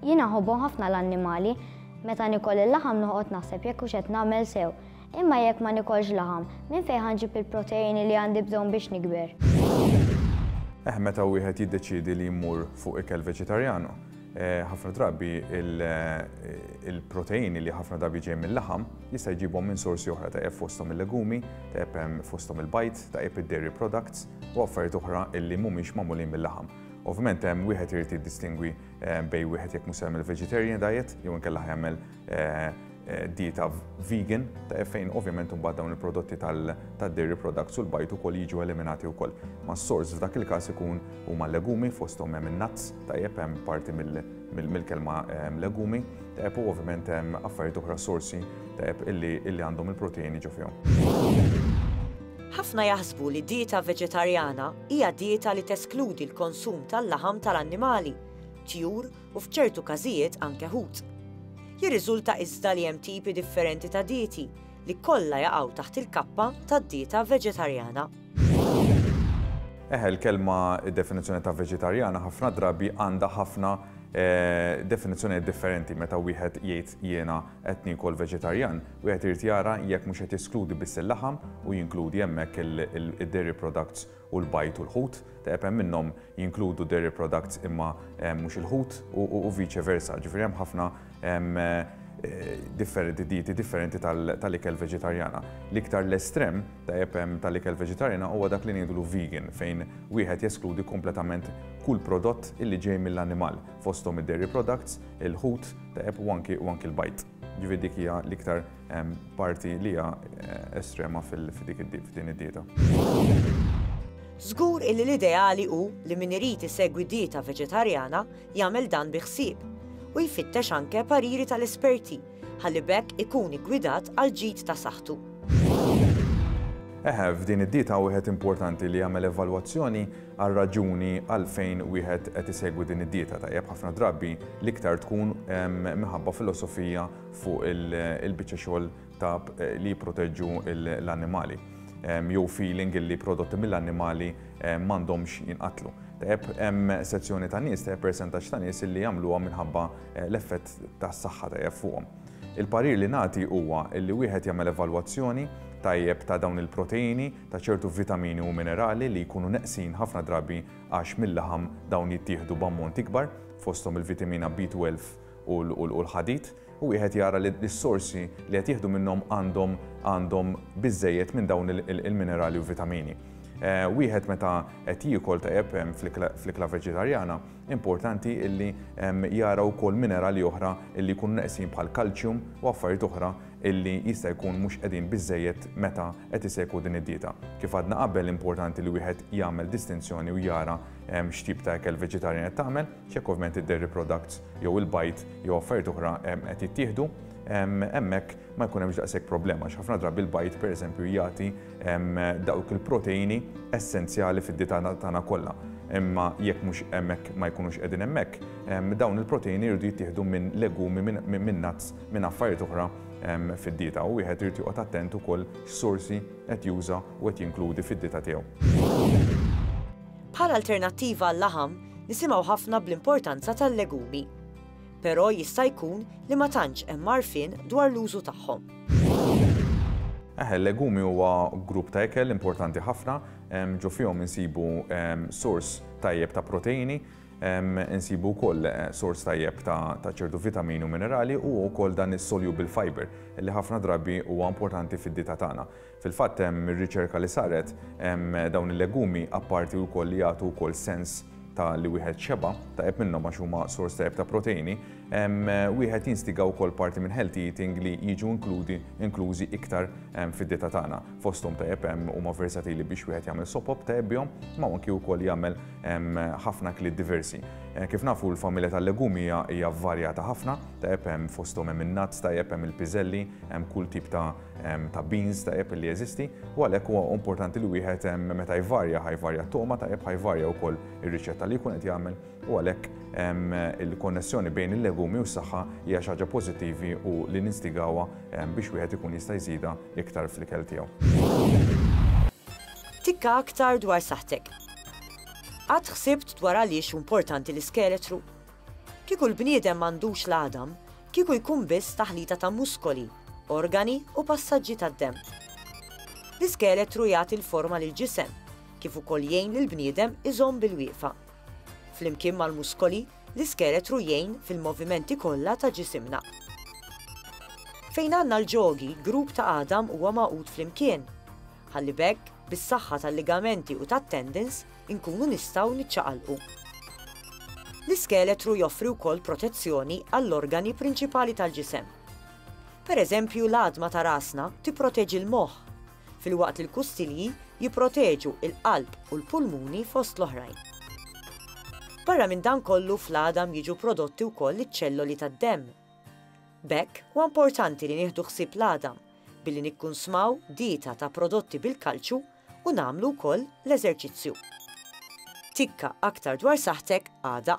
Jien nħobbhom ħafna l-annimali. Meta nikol il-laħam noqgħod naħseb jekk hux qed nagħmel sew. Imma jekk ma nikolx laħam, minn fejn ħa nġib il-proteini li għandi bżonn biex nikber? Eh, meta wieħed jiddeċiedi li jmur fuq ikel veġetarjanu, eh, ħafna drabi eh, il-proteini li ħafna drabi ġej mill-laħam jista' jġibhom minn sorsi oħra ta' fosthom il-legumi, ta' fosthom il-bajt, ta' id-dairy products u affarijiet oħra illi mhumiex magħmulin mill-laħam. Ovvjament hemm wieħed irid jiddistingwi eh, bej wieħed jekk mhux jagħmel vegetarian diet jew inkella jagħmel eh, eh, dieta vegan ta' fejn ovvjament imbagħad dawn il-prodotti tad-dairy products u l-bajt ukoll jiġu eliminati wkoll. Ma s-sors f'dak il-każ ikun huma legumi fosthom hemm in-nuts tajjeb hemm parti mill-kelma legumi tajjeb u ovvjament hemm affarijiet oħra sorsi tajjeb illi għandhom il-proteini ġo fihom. Ħafna jaħsbu li dieta veġetarjana hija dieta li teskludi l-konsum tal-laħam tal-annimali, tjur u f'ċertu każijiet anke ħut. Jirriżulta iżda li hemm tipi differenti ta' dieti li kollha jaqgħu taħt il-kappa tad-dieta veġetarjana. Eħe, il-kelma, id-definizzjoni ta' veġetarjana ħafna drabi għandha ħafna definizzjonijiet differenti meta wieħed jgħid jiena qed niekol veġetarjan, wieħed irid jara jekk mhux qed jeskludi biss il-laħam u jinkludi hemmhekk id-dairy products u l-bajd u l-ħut, teqeb hemm minnhom jinkludu dairy products imma mhux il-ħut u vice versa. Ġifieri hemm ħafna dieti differenti tal-ikel veġetarjana. L-iktar l-estrem, tajjeb, tal-ikel veġetarjana huwa dak li ngħidulu vegan fejn wieħed jeskludi kompletament kull prodott illi ġej mill-annimal fosthom id-dairy products, il-ħut, Deheb u anki u anki l-bajd. Ġifieri dik hija l-iktar parti li hija estrema f'dik f'din id-dieta. Żgur illi l-ideali hu li min irid isegwi dieta veġetarjana jagħmel dan bi ħsieb u jfittex anke pariri tal-esperti ħalli b'hekk ikun iggwidat għall-ġid ta' saħħtu. Eħe, f'din id-dieta wieħed importanti li jagħmel evalwazzjoni għar-raġuni għalfejn wieħed qed isegwi din id-dieta. Tajjeb, ħafna drabi l-iktar tkun minħabba filosofija fuq il-biċċa xogħol ta' li jipproteġġu l-annimali jew feeling illi prodotti mill-annimali m'għandhomx jinqatlu. Tajjeb, hemm sezzjoni ta' nies, tajjeb persentaġġ ta' nies illi jagħmluha minħabba l-effett tas-saħħa tajjeb fuqhom. Il-parir li nagħti huwa illi wieħed jagħmel evalwazzjoni tajjeb ta' dawn il-proteini ta' ċertu vitamini u minerali li jkunu neqsin ħafna drabi għax mil-laħam dawn jittieħdu b'ammont ikbar, fosthom il-vitamina B12 u l-ħadid, u wieħed jara li s-sorsi li qed jieħdu minnhom għandhom għandhom biżżejjed minn dawn il-minerali u vitamini. Wieħed meta qed jiekol tajjeb fl-ikla veġetarjana, importanti li jara wkoll minerali oħra li jkunu neqsin bħall-kalċjum u affarijiet oħra illi jista' jkun mhux qegħdin biżżejjed meta qed isegwu din id-dieta. Kif għadna qabel importanti li wieħed jagħmel distinzjoni u jara x'tip ta' ikel veġetarjan qed tagħmel, x'jekk ovvjament id-dairy products jew il-bajd jew affarijiet oħra qed jittieħdu, hemmhekk ma jkun hemmx daqshekk problema għax ħafna drabi l-bajd pereżempju jagħti dawk il-proteini essenzjali fid-dieta tagħna kollha. Imma jekk mhux hemmhekk ma jkunux qegħdin hemmhekk, dawn il-proteini jridu jittieħdu minn legumi, minn nuts, minn affarijiet oħra fid-dieta u wieħed irid joqgħod attent ukoll x'sorsi qed juża u qed jinkludi fid-dieta tiegħu. Bħala alternattiva għal-laħam, nisimgħu ħafna bl-importanza tal-legumi. Però jista' jkun li ma tantx hemm għarfien dwar l-użu tagħhom. Eħe, legumi huwa grupp ta' ekel importanti ħafna, ġo fihom insibu sors tajjeb ta' proteini, Insibu wkoll sors tajjeb ta' ċertu vitamini u minerali u wkoll dan is-soluble fiber li ħafna drabi huwa importanti fid-dieta tagħna. Fil-fatt, mir-riċerka li saret, dawn il-legumi apparti wkoll li jagħtu wkoll sens ta' li wieħed xeba' tajjeb minnhom għax huma sors tajjeb ta' proteini, wieħed jinstiga wkoll parti minn healthy eating li jiġu inkludi inklużi iktar fid-dieta tagħna. Fosthom tajjeb huma versatili biex wieħed jagħmel sopop tajjeb bihom, imma anki wkoll jagħmel Hemm ħafna akliet diversi. Kif nafu l-familja tal-legumi hija varjata ħafna, tajjeb hemm fosthom hemm in-nuts, tajjeb hemm il-piżelli, hemm kull tip ta' ta' beans tajjeb li jeżisti, u għalhekk huwa importanti li wieħed meta jvarja ħajvarja t-togħma tajjeb ħajvarja wkoll ir-riċetta li jkun qed jagħmel u għalhekk il-konnessjoni bejn il-legumi u s-saħħa hija xi ħaġa pożittivi u li ninstigawha biex wieħed ikun jista' jżidha iktar fl-ikel tiegħu. Tikka aktar dwar saħħtek. Qatt ħsibt dwar għaliex hu mportanti l-iskeletru? Kieku l-bniedem m'għandux l-għadam, kieku jkun biss taħlita ta' muskoli, organi u passaġġi tad-demm. L-iskeletru jagħti l-forma lill-ġisem, kif ukoll jgħin lill-bniedem iżomm bil-wieqfa. Flimkien mal-muskoli, l-iskeletru jgħin fil-movimenti kollha ta' ġisimna. Fejn għandna l-ġogi, grupp ta' għadam huwa magħqud flimkien. Ħalli b'hekk, bis-saħħa tal-ligamenti u tat-tendons, inkunu nistgħu niċċaqalqu. L-iskeletru joffri wkoll protezzjoni għall-organi prinċipali tal-ġisem. Per eżempju, l-għadma ta' rasna tipproteġi l-moħħ, filwaqt li l-kustilji jipproteġu l-qalb u l-pulmuni fost l-oħrajn. Barra minn dan kollu fl-għadam jiġu prodotti wkoll iċ-ċelloli tad-demm. B'hekk, huwa importanti li nieħdu ħsieb l-għadam billi nikkunsmaw dieta ta' prodotti bil-kalċju u nagħmlu wkoll l-eżerċizzju. Tikka aktar dwar saħħtek għada.